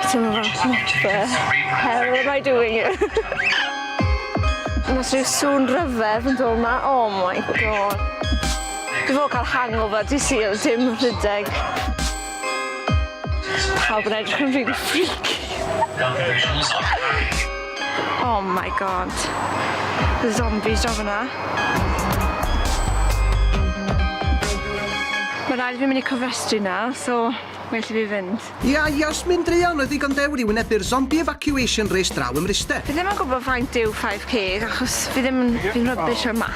How am I doing it? Mae rhyw sŵn rhyfedd yn dod yma. Oh my god. Dwi fod cael hangover, di syl, dim rhydeg. Pawb yn edrych yn rili freaky. Oh my god. The zombies draw fyna. Mae rhaid fi mynd i cofrestru na, so well i fi fynd. Ia, Ios, mynd druan, oedd ddigon dewr i wynebu'r zombie evacuation race draw ym Mryste. Fi ddim yn gwybod faint yw 5k achos fi ddim yn... fi'n rubbish ar maths.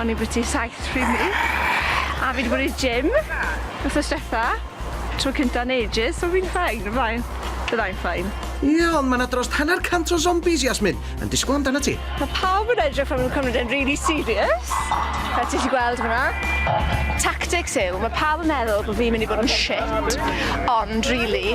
O'n i byti 7 pryd 'ny. A fi 'di bod i'r gym wthnos dwetha. Tro cynta yn ages, so fi'n fine, y flaen. Fyddai'n fine. Ie, ond ma' 'na drost hanner cant o zombies, Yasmin, yn disgwyl amdanat ti. Ma' pawb yn edrych fel ma' nhw'n cymryd e'n rili serious, fel ti 'llu gweld fan'na. Tactics yw, ma' pawb yn meddwl bo' fi'n mynd i bod yn shit, ond rili,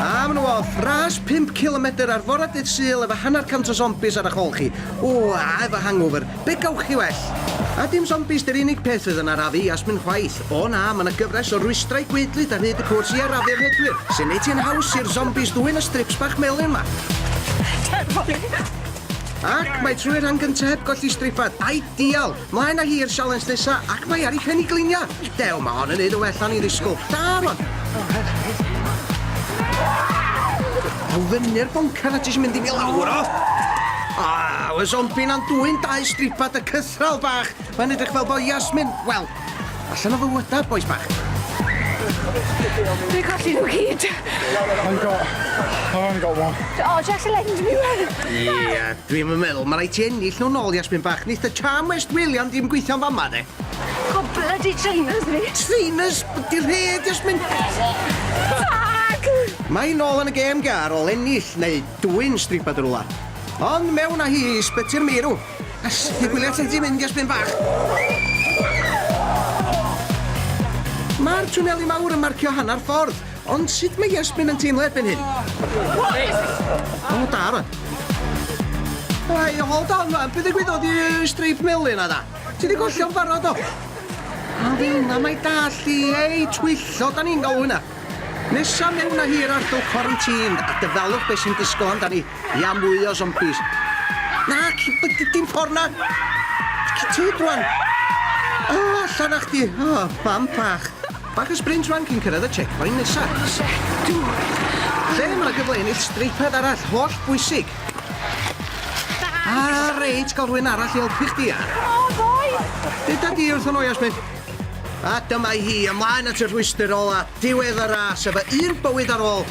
A ma' nhw off! Ras pump cilomedr ar fora dydd Sul efo hanner cant o sombies ar 'ych ôl chi. Ww, a efo hangover. Be' gewch chi well? A dim sombies 'di'r unig peth fydd yn arafu Iasmin chwaith. O na, ma' 'na gyfres o rwystrau gwaedlyd ar hyd y cwrs i arafu'r rhedwyr, sy'n neud hi'n haws i'r sombies ddwyn y strips bach melyn 'ma. Ac mae trwy'r rhan gynta' heb golli stripad. Ideal! Mlaen a hi i'r sialens nesa, ac mae ar ei phen i glinia! Dew, mae hon yn neud yn well na o'n i'n ddisgwl. Da rwan! Aw fyny'r boncar na ti isio mynd i fi lawr o! Aw, y zombi na'n dwyn dau stripa dy cythral bach! Mae'n edrych fel bo Yasmin, wel, Allan o fy mwyda, bois bach. Dwi'n colli nhw gyd. I've got... I've only got one. Oh, just to lend me one. Ie, dwi'm yn meddwl, mae rhaid ti ennill nhw nôl, Jasmine bach. Neith y charm West Wiliam ddim gweithio'n fama, de. O, bloody trainers ni. Trainers? Di rheg, Jasmine. Tag! Mae nôl yn y gêm, Gar, ôl ennill, neu dwy'n stripa dyrwla. Ond mewn â hi i sbyty'r meirw. Ers y gwylia ti di mynd ers pyn bach. Ma'r twneli mawr yn marcio hannar ffordd, ond sut mae Iesmin yn teimlo erbyn hyn? O, da rwan. Ai, hold on rwan, be ddigwyddodd i streip melyn na da? Ti di gollio'n barod o? A fynna mae dall i, ei, twyllo, da ni'n galw hynna. Nesa mewn a hir ar dy quarantine a dyfalwch beth sy'n disgwyl amdani. Ia mwy o zombies. Nac, dim ffordd na! Cytid rwan! O, allan â chdi! O, mam bach! Bach o sprint rwan cyn cyrraedd y checkpoint nesa. Lle mae yna gyfle ennill streipad arall, holl bwysig. A reit, gael rhywun arall i helpu chdi a... O, ddoe! Dyda di wrth o'n Jasmine. A dyma hi, ymlaen at y rhwystr ola, diwedd y ras, efo un bywyd ar ôl.